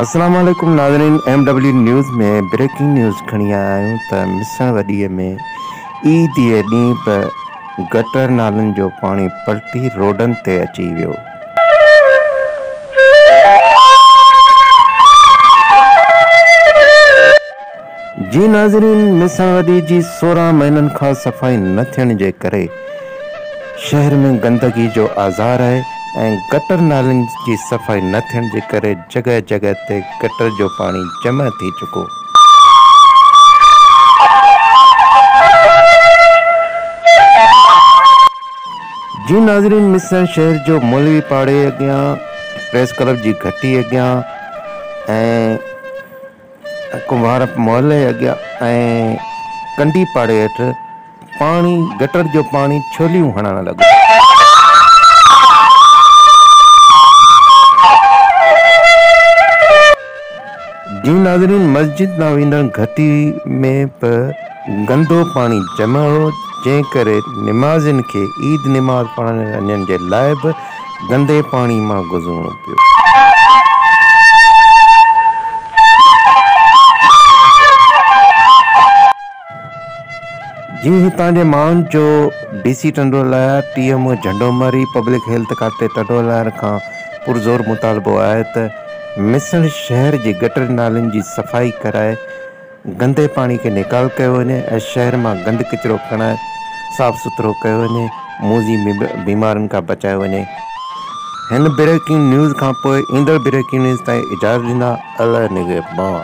السلام عليڪم ناظرين M W news ۾ breaking news کڻي آيا آهيون ته مسڻ وڏي ۾ عيد جي ڏينهن به گٽر نالن جو پاڻي پلٽي روڊن تي اچي ويو. جي ناظرين ميسان ودي جي سورهن مهينن کان صفائي نه ٿيڻ جي ڪري شهر ۾ گندگي جو آزار آهي ۽ گٽر نالين جي صفائي نه ٿيڻ جي ڪري جڳهه جڳهه تي گٽر جو پاڻي جمع ٿي چڪو جي ناظرين ميسان شهر جو مولوي پاڙي اڳيان پريس ڪلب جي گهٽي اڳيان ۽ ڪنڀار محلي اڳيان ۽ ڪنڊي پاڙي هيٺ پاڻي گٽر جو پاڻي ڇوليون هڻڻ لڳو. جون ناظرين مسجد ڏانهن ويندڙ گهٽي ۾ به گندو پاڻي جمع هو جنهن ڪري نمازين کي عيد نماز پڙهڻ وڃڻ جي لاء به گندي پاڻي مان گذرڻو پيو. جي هتان جي ماڻهن چيو D C Tando Allahyar T M O Jhando Mari public health کاتي ٽنڊو الهيار کان پرزور مطالبو آهي ته مسڻ شهر جي گٽر نالين جي صفائي ڪرائي گندي پاڻي کي نيڪال ڪيو وڃي ۽ شهر مان گند ڪچرو کڻائي صاف سٿرو ڪيو وڃي، موذي بيمارين کان بچايو وڃي. هن بريڪنگ نيوز کان پوء ايندڙ بريڪنگ نيوز تائين اجازت ڏيندا الله نگهبان.